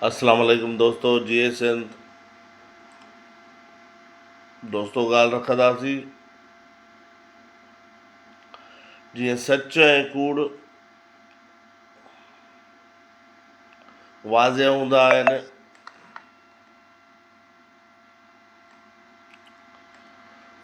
اسلام عليڪم دوستو جئي سنڌ دوستو ڳالهه رکنداسين جيئن سچ ۽ ڪوڙ واضح هوندا آهن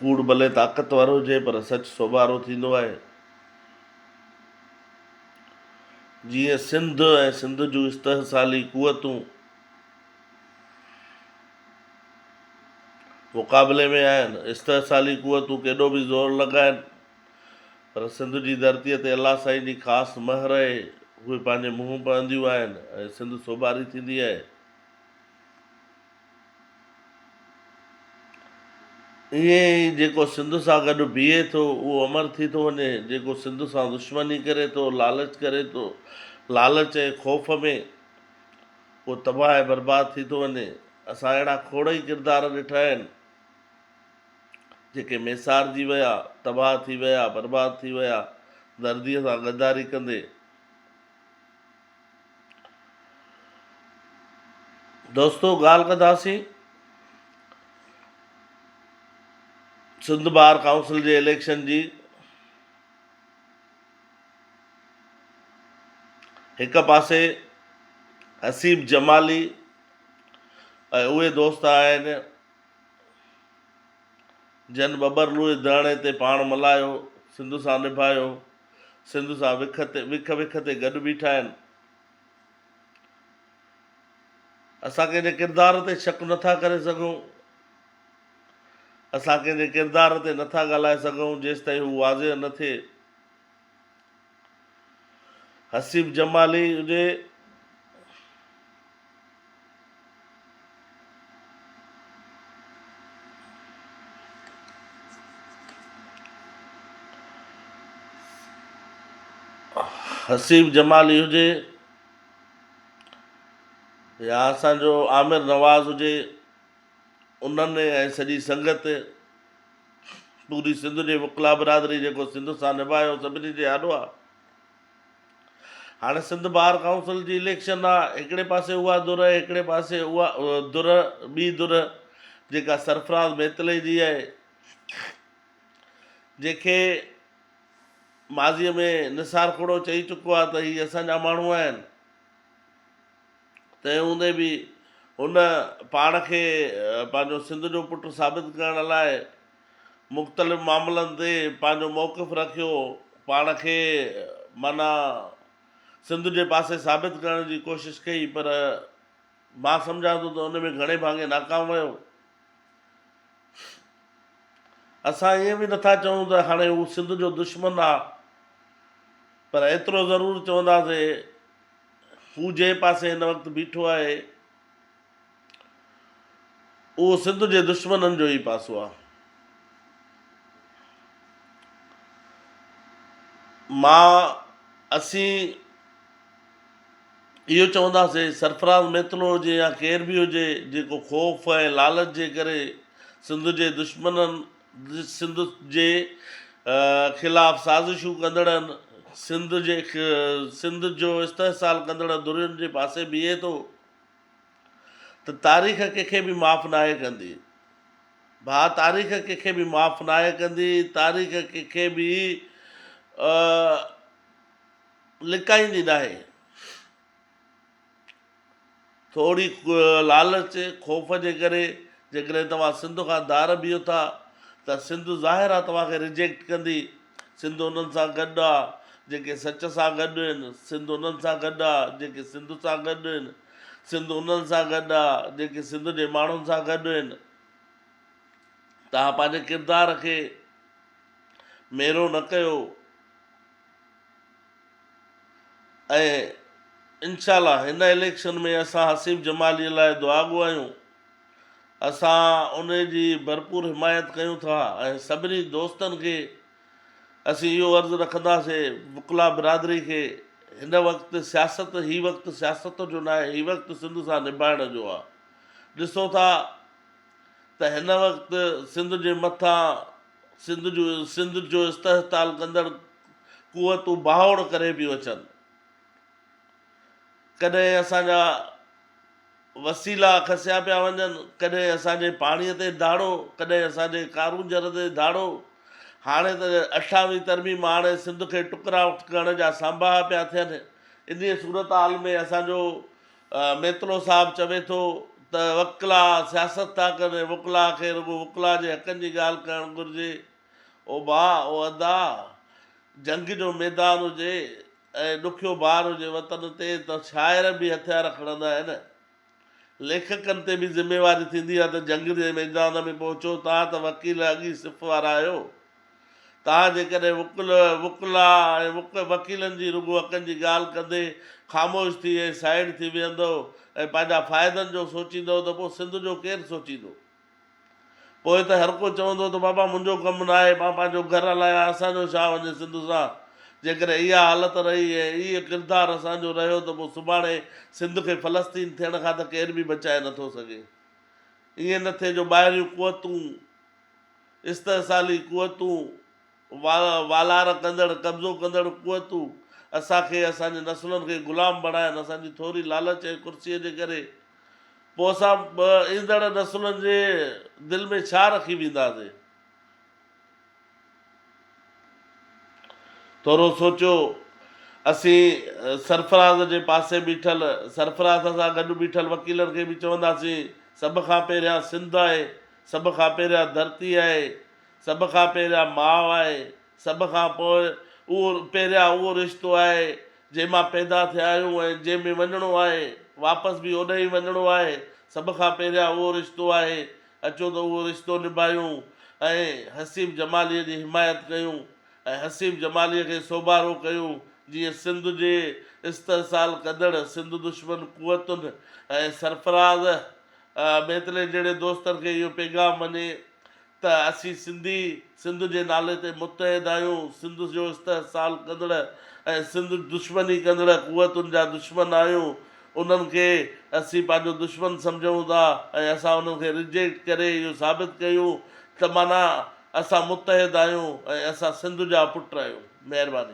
ڪوڙ ڀلي طاقتور هجي پر سچ سوڀارو ٿيندو آهي جيئن سنڌ ۽ سنڌ جون استحصالي قوتون مقابلي ۾ آهن. استحصالي قوتون ڪيڏو به زور لڳائن پر سنڌ جي ڌرتيء تي الله سائين جي خاص مهر اهي اهي پنهنجي منهن پهنديون آهن ۽ سنڌ سوڀاري ٿيندي اهي. ائين ئي جيڪو سنڌ سان گڏ بيهي ٿو، اهو امر ٿي ٿو وڃي، جيڪو سنڌ سان دشمني ڪري ٿو، لالچ ڪري ٿو، لالچ ۽ خوف ۾، اهو تباهه ۽ برباد ٿي ٿو وڃي. اسان اهڙا کوڙ ئي ڪردار ڏٺا آهن، جيڪي ميسارجي ويا، تباهه ٿي ويا، برباد ٿي ويا، درديء سان غداري ڪندي. دوستو ڳالهه ڪنداسين سنڌ بار ڪائونسل جي اليڪشن جي هڪ پاسي حسيب جمالي ۽ اهي دوست آهن جن ٻٻر لوئي ڌرڻي تي پاڻ ملايو سنڌ سان نڀايو سنڌ سان وک تي وک وک تي گڏ بيٺا آهن. اسان ڪنهن جي ڪردار تي شڪ نه ٿا ڪري سگهون. اسان ڪنهن جي ڪردار تي نه ٿا ڳالهائي سگهون جيستائين هو واضح نه ٿئي. حسيب جمالي هجي. حسيب جمالي هجي يا اسان جو عامر نواز هجي انهن ۽ سڄي سنگت پوري سنڌ جي وڪلا برادري جيڪو سنڌ سان نڀايو سڀني جي آڏو آ هاڻي سنڌ بار ڪائونسل جي اليڪشن آ، هڪڙي پاسي اها ڌر هڪڙي پاسي اها ڌر ٻي ڌر جيڪا سرفراز ميتلي جي آهي جنهن کي ماضي ۾ نثار کوڙو چئي چڪو آ ته هي اسان جا ماڻهو آهن تنهن هوندي به هن پاڻ کي پنهنجو سنڌ جو پٽ ثابت ڪرڻ لاء مختلف معاملن تي پنهنجو موقف رکيو، پاڻ کي معنيٰ سنڌ جي پاسي ثابت ڪرڻ جي ڪوشش ڪئي پر مان سمجهان ٿو ته ان ۾ گهڻي ڀاڱي ناڪام ويو. اسان ائين به نٿا چئون ته هاڻي هو سنڌ جو دشمن آ پر ايترو ضرور چونداسين هو جنهن پاسي هن وقت بيٺو آهي، اهو سنڌ جي دشمنن جو ئي پاسو آ. مان اسين اهو چونداسي سرفراز ميتلو هجي يا ڪير به هجي جيڪو خوف ۽ لالچ جي ڪري سنڌ جي دشمنن سنڌ جي خلاف سازشون ڪندڙن سنڌ جي سنڌ جو استحصال ڪندڙ ڌرين جي پاسي بيهي ٿو. ته تاريخ ڪنهن کي به معاف ناهي ڪندي ڀاء تاريخ ڪنهن کي به معاف ناهي ڪندي تاريخ ڪنهن کي به لڪائيندي ناهي ٿوري لالچ خوف جي ڪري جيڪڏهن توهان سنڌ کان ڌار بيهو ٿا ته سنڌ ظاهر آهي توهان کي ريجيڪٽ ڪندي سنڌ انهن سان گڏ آ، جيڪي سچ سان گڏ هن. سنڌ انهن سان گڏ آ، جيڪي سنڌ سان گڏ هن. سنڌ انهن سان گڏ آ، جيڪي سنڌ جي ماڻهن سان گڏ هن. توهان پنهنجي ڪردار کي ميرو نه ڪيو ۽ انشاء الله هن اليڪشن ۾ اسان حسيب جمالي لاء دعا گهايون. اسان ان جي ڀرپور حمايت ڪيون ٿا ۽ سڀني دوستن کي اسين اهو عرض رکنداسي وڪلا برادري کي هن وقت سياست هي وقت سياست جو ناهي هي وقت سنڌ سان نڀائڻ جو آ ڏسو ٿا ته هن وقت سنڌ جي مٿان سنڌ جو سنڌ جو استحصتال ڪندڙ قوتون بهاوڙ ڪري پيون اچن. ڪڏهن اسان جا وسيلا کسيا پيا وڃن، ڪڏهن اسان جي پاڻي تي ڌاڙو، ڪڏهن اسان جي ڪارونجهر تي ڌاڙو. هاڻي ته اٺاويهه ترميم آڻي سنڌ کي ٽڪرا ڪرڻ جا سانباها پيا ٿين. انهيء صورتحال ۾ اسان جو ميتلو صاحب چوي ٿو ته وڪلا سياست ٿا ڪن ۽ وڪلا کي رڳو وڪلا جي حقن جي ڳالهه ڪرڻ گهرجي. او ڀاء، او ادا، جنگ جو ميدان هجي، ۽ ڏکيو بار هجي وطن تي ته شاعر به هٿيار کڻندا آهن. ليکڪن تي به ذميواري ٿيندي آهي ته جنگ جي ميدان ۾ پهچو توهان ته وڪيل اڳ ئي صف وارا آهيو. توهان جيڪڏهن وڪل، وڪلا ۽ وڪ وڪيلن جي رڳو حقن جي ڳالهه ڪندي خاموش ٿي ۽ سائيڊ ٿي ويهندؤ ۽ پنهنجا فائدن جو سوچيندؤ ته پوء سنڌ جو ڪير سوچيندو؟ پوء ته هرڪو چوندو ته بابا منهنجو ڪم ناهي، مان پنهنجو گهر هلايان، اسان جو ڇا وڃي سنڌ سان؟ جيڪڏهن اها حالت رهي ۽ اهي ڪردار اسان جو رهيو ته پوء سڀاڻي سنڌ کي فلسطين ٿيڻ کان ته ڪير به بچائي نه ٿو سگهي. ائين نه ٿئي جو ٻاهريون قوتون، استحصالي قوتون، والار ڪندڙ، قبضو ڪندڙ قوتون اسان کي، اسان جي نسلن کي غلام بڻائن، اسان جي ٿوري لالچ ۽ ڪرسيء جي ڪري، پوء اسان ايندڙ نسلن جي دل ۾ ڇا رکي وينداسين؟ ٿورو سوچيو، اسين سرفراز جي پاسي بيٺل، سرفراز سان گڏ بيٺل وڪيلن کي به چونداسين، سڀ کان پهريان سنڌ آهي، سڀ کان پهريان ڌرتي آهي، سڀ کان پهريان ماء آهي، سڀ کان پوء اهو پهريان اهو رشتو آهي جنهن مان پيدا ٿيا آهيون ۽ جنهن ۾ وڃڻو آهي، واپس به اوڏانهن ئي وڃڻو آهي، سڀ کان پهريان اهو رشتو آهي، اچو ته اهو رشتو نڀايون ۽ حسيب جماليء جي حمايت ڪيون ۽ حسيب جماليء کي سوڀارو ڪيون جيئن سنڌ جي استحصال ڪندڙ سنڌ دشمن قوتن ۽ سرفراز ميتلي جهڙي دوستن کي اهو پيغام وڃي ته اسين سنڌي سنڌ جي نالي تي متحد آهيون، سنڌ جو استحصال ڪندڙ ۽ سنڌ جي دشمني ڪندڙ قوتن جا دشمن آهيون، انهن کي اسين پنهنجو دشمن سمجهون ٿا ۽ اسان انهن کي ريجيڪٽ ڪري اهو ثابت ڪيون ته معنيٰ اسان متحد آهيون ۽ اسان سنڌ جا پٽ آهيون. مهرباني.